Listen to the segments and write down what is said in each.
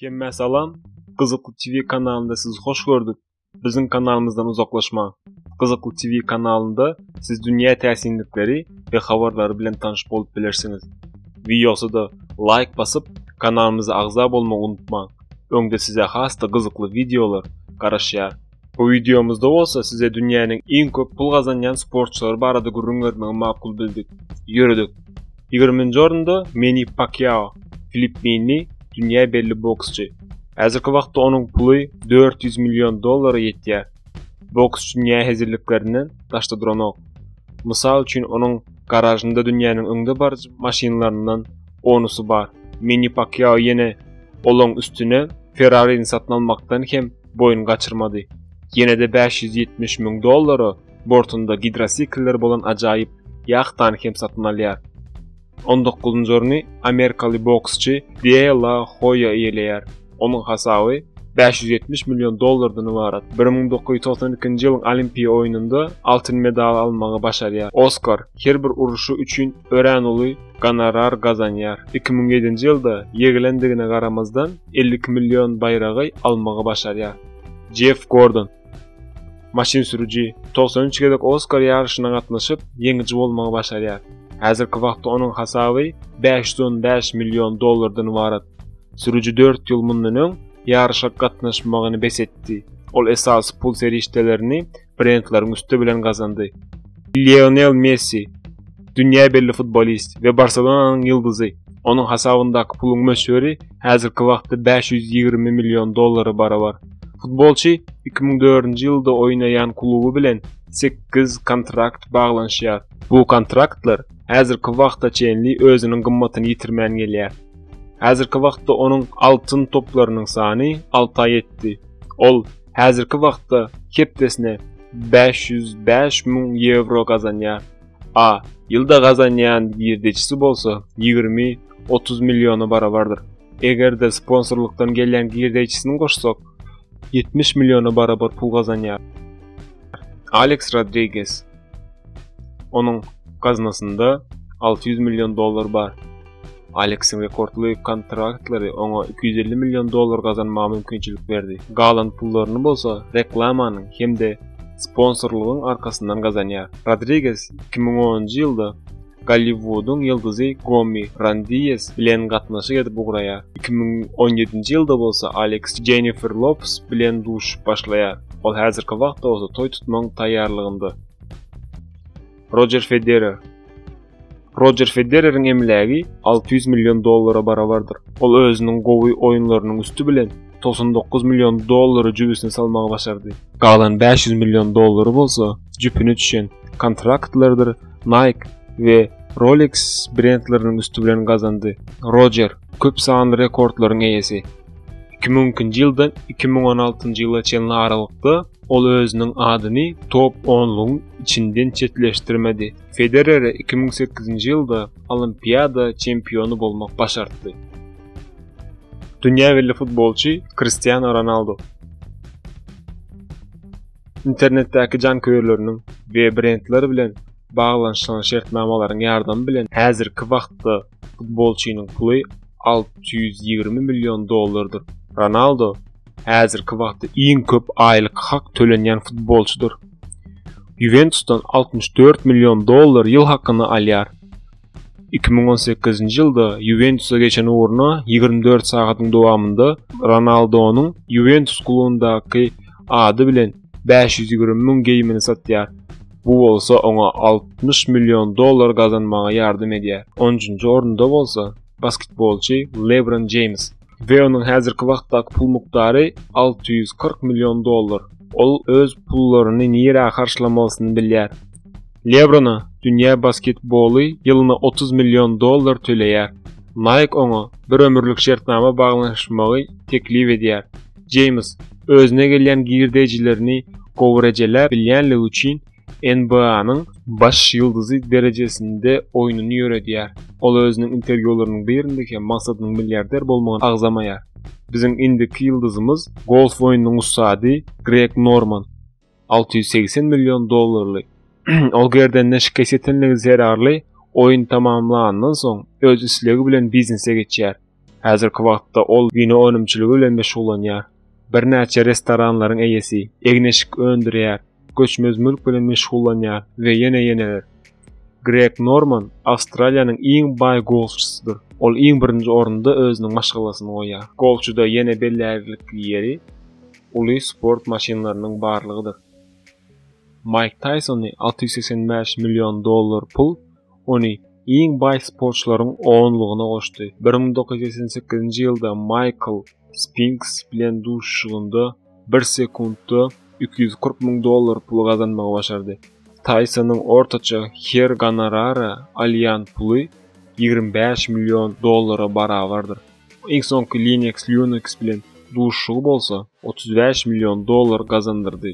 Hemmä salam. Gyzykly TV kanalynda sizi hoş gördük. Biziň kanalymyzdan uzaklaşmaň. Gyzykly TV kanalynda siz dünýä täsinlikleri we habarlary bilen tanyş bolup bilersiňiz. Wideosada laýk basyp, kanalymyza agza bolmagy unutmaň. Öňde size has-da gyzykly wideolar garaşýar. Bu wideomyzda bolsa size dünýäniň iň köp pul gazanýan sportçylary barada gürrüň bermegi makul bildik. Ýöredik. Ýigriminji orunda Meni Pakyao, filippinli, dünýä belli boksçy. Häzirki wagtda onuň puly dört ýüz million dollara ýetýär. Boks dünýä hezilliklerinden daşda duranok. Mysal üçin onuň garažynda dünýäniň öňde baryjy maşynlaryndan onusy bar. Meni Pakyao ýene olaň üstüne Ferrari-ni satyn almakdan hem boýun gaçyrmady. Ýene-de bäş ýüz ýetmiş müň dollara bortunda gidrosiklleri bolan ajaýyp ýahtany hem satyn alýar. On dokuzynjy orny amerikaly boksçy De La Hoýa eýeleýär. Onuň hasaby bäş ýüz ýetmiş million dollardan ybarat. Bir müň dokuz ýüz togsan ikinji ýylyň Olimpiýa oýnunda altyn medaly almagy başarýar. Oskar her bir uruşy üçin örän uly gonorar gazanýar. Iki müň ýedinji ýylda ýegilendigine garamazdan, elli iki million baýragy almagy başarýar. Jeff Gordon, maşyn sürüji, togsan üç gezek Oskar ýaryşyna gatnaşyp, ýeňiji bolmagy başarýar. Häzirki wagtda onuň hasaby bäş ýüz on bäş million dollardan ybarat. Sürüji dört ýyl mundan öň ýaryşa gatnaşmagyny bes etdi. Ol esasy pul serişdelerini brentleriň üsti bilen gazandy. Lionel Messi, dünýä belli futbolist we Barselonanyň ýyldyzy. Onuň hasabyndaky puluň möçberi häzirki wagtda bäş ýüz ýigrimi million dollara barabar. Futbolçy iki müň dördünji ýylda oýnaýan kluby bilen sekiz kontrakt baglanyşýar. Bu kontraktlar häzirki wagta çenli özüniň gymmatyny ýitirmän gelýär. Häzirki wagtda onuň Altyn toplarynyň sany alta ýetdi. Ol Häzirki wagtda hepdesine bäş ýüz bäş müň ýewro gazanýar. A ýylda gazanýan girdejisi bolsa ýigrimi, otuz milliona barabardyr. Eger-de sponsorlykdan gelýän girdejisini goşsak, ýetmiş milliona barabar pul gazanýar. Aleks Rodriges. Onuň gaznasynda alty ýüz million dollar bar. Aleksiň rekordly kontraktlary oňa iki ýüz elli million dollar gazanmaga mümkinçilik berdi, galan pullaryny bolsa reklamanyň hem-de sponsorlygyň arkasyndan gazanýar. Rodriges iki müň onunjy ýylda Golliwudyň ýyldyzy Gommi Randies bilen gatnaşyk edip ugraýar, iki müň on ýedinji ýylda bolsa Aleks Jennifer Lopes bilen duşup başlaýar, ol häzirki wagtda bolsa toý tutmagyň taýýarlygynda. Rojer Federer. Rojer Federeriň emlägi 600 million dollara barabardyr. Ol özüniň gowy oýunlarynyň üsti bilen 99 million dollary jübüsine salmagy başardy. Galan 500 million dollary bolsa jüpüne düşen kontraktlardyr Nike we Rolex brendleriniň üsti bilen gazandy. Rojer köp sanly rekordlaryň eýesi. 2002-nji ýyldan 2016-njy ýyla çenli aralykda ol özüniň adyny top onlugyň içinden çetleşdirmedi. Federere iki müň sekizinji ýylda Olimpiada çempiony bolmak başartdy. Dünýä belli futbolçy Kristiano Ronaldo. Internetdäki janköýerleriniň we brendler bilen baglanyşylan şertnamalaryň ýardamy bilen häzirki wagtda futbolçynyň puly alty ýüz ýigrimi million dollardyr. Ronaldo häzirki wagtda iň köp aýlyk hak tölenýän futbolçydyr. Ýuwentusdan altmyş dört million dollar ýyl hakyny alýar. Iki müň on sekizinji ýylda Ýuwentusa geçen ugruna ýigrimi dört sagadyň dowamynda Ronaldonyň Ýuwentus klubundaky ady bilen bäş ýüz ýigrimi müň geýimini satýar. Bu bolsa oňa altmyş million dollar gazanmaga ýardam edýär. On üçünji orunda bolsa basketbolçy Lebron Jeýms. Weonyň häzirki wagtdaky pul mukdary alty ýüz kyrk million dollar. Ol öz pullaryny nirä harçlamalysyny bilýär. Lebrona dünýä basketboly ýylyna otuz million dollar töleýär. Nike oňa bir ömürlik şertnama baglanyşmagy teklip edýär. Jeýms özüne gelýän girdejilerini gowy rejeläp bilýänligi üçin NBA-nyň baş ýyldyzy derejesinde oýnuny ýöredýär. Ol özüniň interwýularynyň birinde hem maksadynyň milliarder bolmagyny agzamaýar. Biziň indiki ýyldyzymyz golf oýnunyň ussady Greg Norman, alty ýüz segsen million dollarly. Ol gerdenine şikes ýetenligi zerarly oýun tamamlanandan soň, öz islegi bilen biznese geçýär. Häzirki wagtda ol wino önümçiligi bilen meşgullanýar. Birnäçe restoranlaryň eýesi, egin-eşik öndürýär, göçmez mülk bilen meşgullanýar we ýene ýeneler. Greg Norman Awstraliýanyň iň baý golfçysydyr. Ol iň birinji orunda özüniň maşgalasyny goýýar. Golfçyda ýene bellärlikli ýeri uly sport maşynlarynyň barlygydyr. Maýk Taýsony alty ýüz segsen bäş million dollar pul ony iň baý sportçylaryň onlugyna goşdy. Bir müň dokuz ýüz segsen sekizinji ýylda Maýkl Spinks bilen duşuşygynda bir sekuntda iki ýüz kyrk müň dollar puly gazanmagy başardy. Taýsonyň ortaça her gonorara alýan puly ýigrimi bäş million dollara barabardyr. Iň soňky Linux Linux bilen duşuşygy bolsa otuz bäş million dollar gazandyrdy.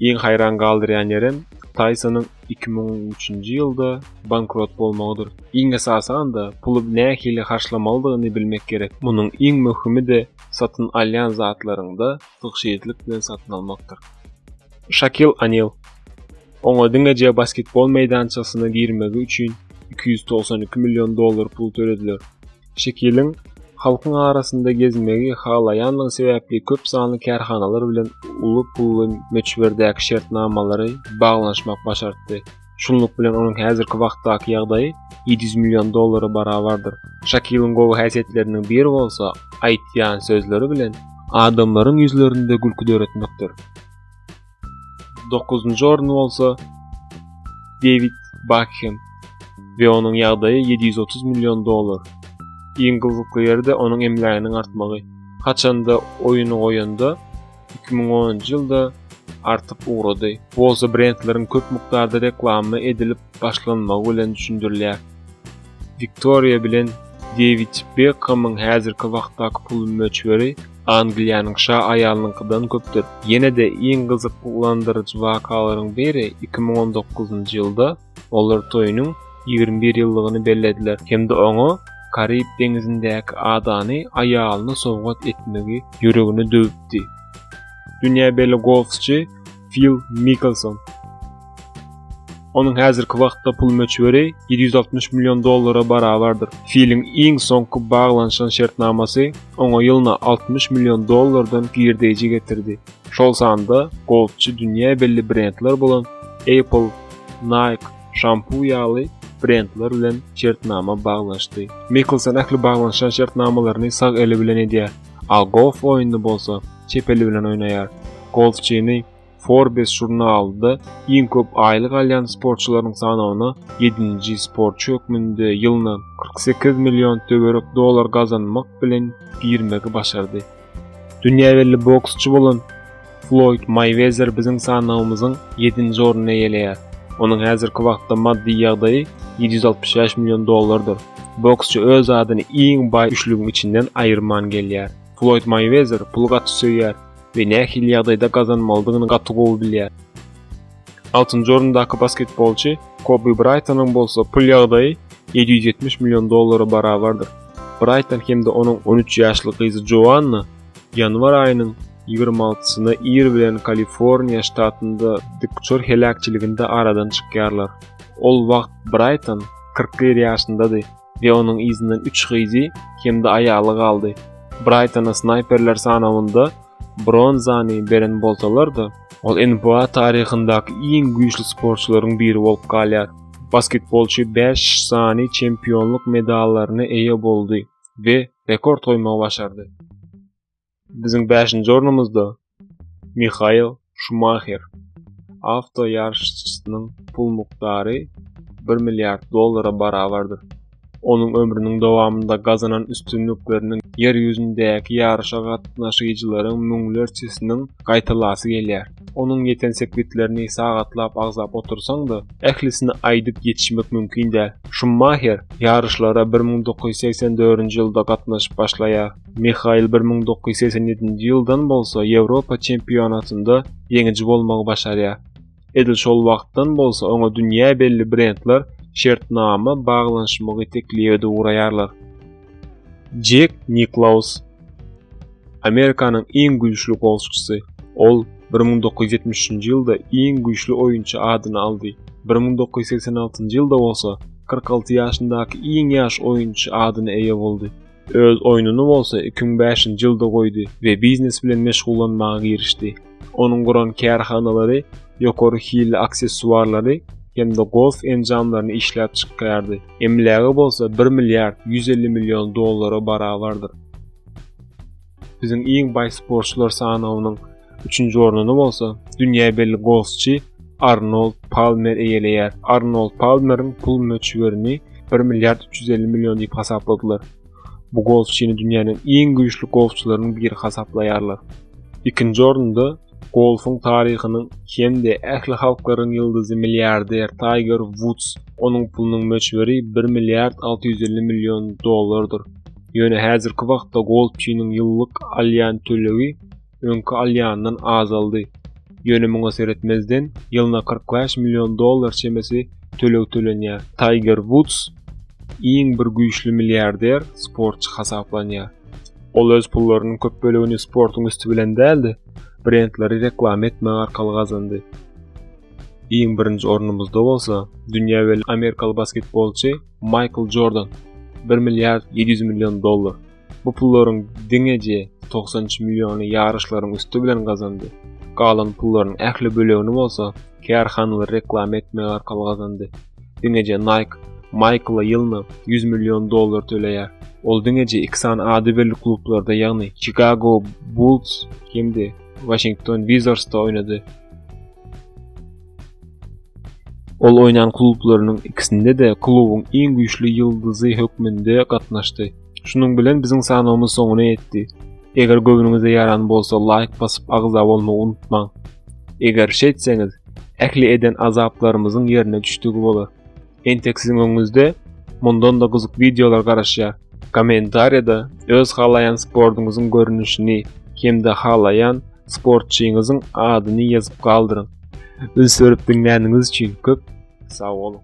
Iň haýran galdyrýan ýerem Tysonyň iki müň on üçünji ýylda bankrot bolmagydyr. Iň esasanda puly nähili harçlamalydygyny bilmek gerek. Munuň iň möhümi-de satyn alýan zatlaryňda tygşytlyk bilen satyn almakdyr. Şakil Anil, Oňa diňeje basketbol meýdançasyna girmegi üçin iki ýüz togsan iki million dollar pul tölediler. Şekiliň halkyň arasynda gezmegi halaýanlygy sebäpli köp sanly kärhanalar bilen uly pully möçberdäki şertnamalary baglanyşmak başartdy. Şunluk bilen onuň häzirki wagtdaky ýagdaýy ýedi ýüz million dollara barabardyr. Şekiliň gowy häsiýetleriniň biri bolsa aýtýan sözleri bilen adamlaryň ýüzlerinde gülki döretmekdir. 9-njy orny bolsa Dewid Bakhem we onuň ýagdaýy 730 million dollar. Iň gyzykly ýeri-de onuň emläginiň artmagy. Haçanda oýuny goýanda 2010-njy ýylda artyp ugrady. Bu bolsa brendleriň köp mukdarda reklama edilip başlanmagy bilen düşündirilýär. Victoria bilen Dewid Bekhemiň häzirki wagtdaky pul möçberi Angliýanyň şa aýalynyňkydan köpdür. Ýene-de iň gyzyklandyryjy wakalaryň biri iki müň on dokuzynjy ýylda olar toýunyň ýigrimi bir ýyllygyny bellediler hem-de oňa Karib deňizindäki adany aýalyna sowgat etmegi ýüregine düwüpdi. Dünýä belli golfçy Fil Mikelson. Onuň häzirki wagtda pul möçberi 760 million dollara barabardyr. Filiň iň soňky baglanyşan şertnamasy oňa ýylyna 60 million dollardan girdeýji getirdi. Şol sanda golfçy dünýä belli brendler bolan Apple, Nike, Shampoo ýaly brendler bilen şertnama baglanyşdy. Mikelson ähli baglanyşan şertnamalaryny sag eli bilen edýär. al golf oýnuny bolsa çep eli bilen oýnaýar. Golfçyny Forbes žurnalynda iň köp aýlyk alýan sportçylaryň sanawyna ýedinji sportçy hökmünde ýylyna kyrk sekiz million töwerek dollar gazanmak bilen girmegi başardy. Dünýä belli boksçy bolan Floýd Maýwezer biziň sanawymyzyň ýedinji ornuny eýeleýär. Onuň häzirki wagtda maddy ýagdaýy ýedi ýüz altmyş bäş million dollardyr. Boksçy öz adyny iň baý üçlügiň içinden aýyrman gelýär. Floýd Maýwezer puly gaty söýýär we nähili ýagdaýda gazanmalydygyny gaty gowy bilýär. Altynjy orundaky basketbolçy Kobi Braýtonyň bolsa pul ýagdaýy ýedi ýüz ýetmiş million dollara barabardyr. Braýton hem-de onuň on üç ýaşly gyzy Joanna Ýanwar aýynyň ýigrimi altysyna ir bilen Kaliforniýa ştatynda dikuçar heläkçiliginde aradan çykýarlar. Ol wagt Braýton kyrk bir ýaşyndady we onuň yzyndan üç gyzy hem-de aýaly galdy. Braýtona snaýperler sanawynda bronzany beren bolsalar-da, ol NBA taryhyndaky iň güýçli sportçylaryň biri bolup galýar. Basketbolçy bäş sany çempionlyk medallaryna eýe boldy, we rekord goýmagy başardy. Biziň 5-nji ornumyzda Mihael Şumaher. Awto ýaryşçysynyň pul mukdary 1 milliard dollara barabardyr. Onuň ömrüniň dowamynda gazanan üstünlikleriniň Ýer ýüzündäki ýaryşa gatnaşyjylaryň müňlerçesiniň gaýtalasy gelýär. Onuň ýeten sepgitlerini sagatlap agzap otursaň-da, ählisini aýdyp ýetişmek mümkin däl. Şummaher ýaryşlara bir müň dokuz ýüz segsen dördünji ýylda gatnaşyp başlaýar. Mihail bir müň dokuz ýüz segsen ýedinji ýyldan bolsa Ýewropa çempionatynda ýeňiji bolmagy başarýar. Edil şol wagtdan bolsa oňa dünýä belli brendler şertnama baglanyşmagy teklip edip ugraýarlar. Jek Niklaus Amerikanyň iň güýçli golfçysy. Ol 1973-nji ýylda iň güýçli oýunçy adyny aldy. 1986-njy ýylda bolsa 46 ýaşyndaky iň ýaş oýunçy adyna eýe boldy. Öz oýnuny bolsa 2005-nji ýylda goýdy we biznes bilen meşgullanmaga girişdi. Onuň guran kärhanalary ýokary hilli aksessuarlary hem-de golf enjamlaryny işläp çykýardy. Emlägi bolsa bir milliard ýüz elli million dollara barabardyr. Biziň iň baý sportçular sanawynyň üçünji ornuny bolsa dünýä belli golfçy Arnold Palmer eýeleýär. Arnold Palmeriň pul möçberini bir milliard üç ýüz elli million diýip hasapladylar. Bu golfçyny dünýäniň iň güýçli golfçylarynyň biri hasaplaýarlar. Ikinji orunda golfuň taryhynyň hem-de ähli halklaryň ýyldyzy milliarder Taýger Wuds, onuň pulunyň möçberi bir milliard alty ýüz elli million dollardyr. Ýöne häzirki wagtda golfçynyň ýyllyk alýan tölegi öňki alýanyndan azaldy. Ýöne muňa seretmezden, ýylyna kyrk bäş million dollar çemesi töleg tölenýär. Taýger Wuds iň bir güýçli milliarder sportçy hasaplanýar. Ol öz pullarynyň köp bölegini sportuň üsti bilen däl-de, brendleri reklama etmek arkaly gazandy. Iň birinji ornumyzda bolsa, dünýä belli amerikaly basketbolçy Maýkl Jordan, bir milliard ýedi ýüz million dollar. Bu pullaryň diňeje togsan üç milliony ýaryşlaryň üsti bilen gazandy. Galan pullaryň ähli bölegini bolsa kärhanalary reklama etmek arkaly gazandy. Diňeje Nike Maýkla ýylyna ýüz million dollar töleýär. Ol diňeje iki sany ady belli klublarda, ýagny Çikago Bulls hem-de Waşington Wizarsda oýnady. Ol oýnan klublarynyň ikisinde-de klubuň iň güýçli ýyldyzy hökmünde gatnaşdy. Şunuň bilen biziň sanawymyz soňuna ýetdi. Eger göwnüňize ýaran bolsa laýk basyp agza bolmagy unutmaň. Eger şeýtseňiz, ähli eden azaplarymyzyň ýerine düşdügi bolar. Entek siziň öňüňizde mundan da gyzyk wideolar garaşýar. Kommentariýada öz halaýan sportuňyzyň görnüşini hem-de halaýan sportçyňyzyň adyny ýazyp galdyryň. Üns berip diňläniňiz üçin köp sag boluň!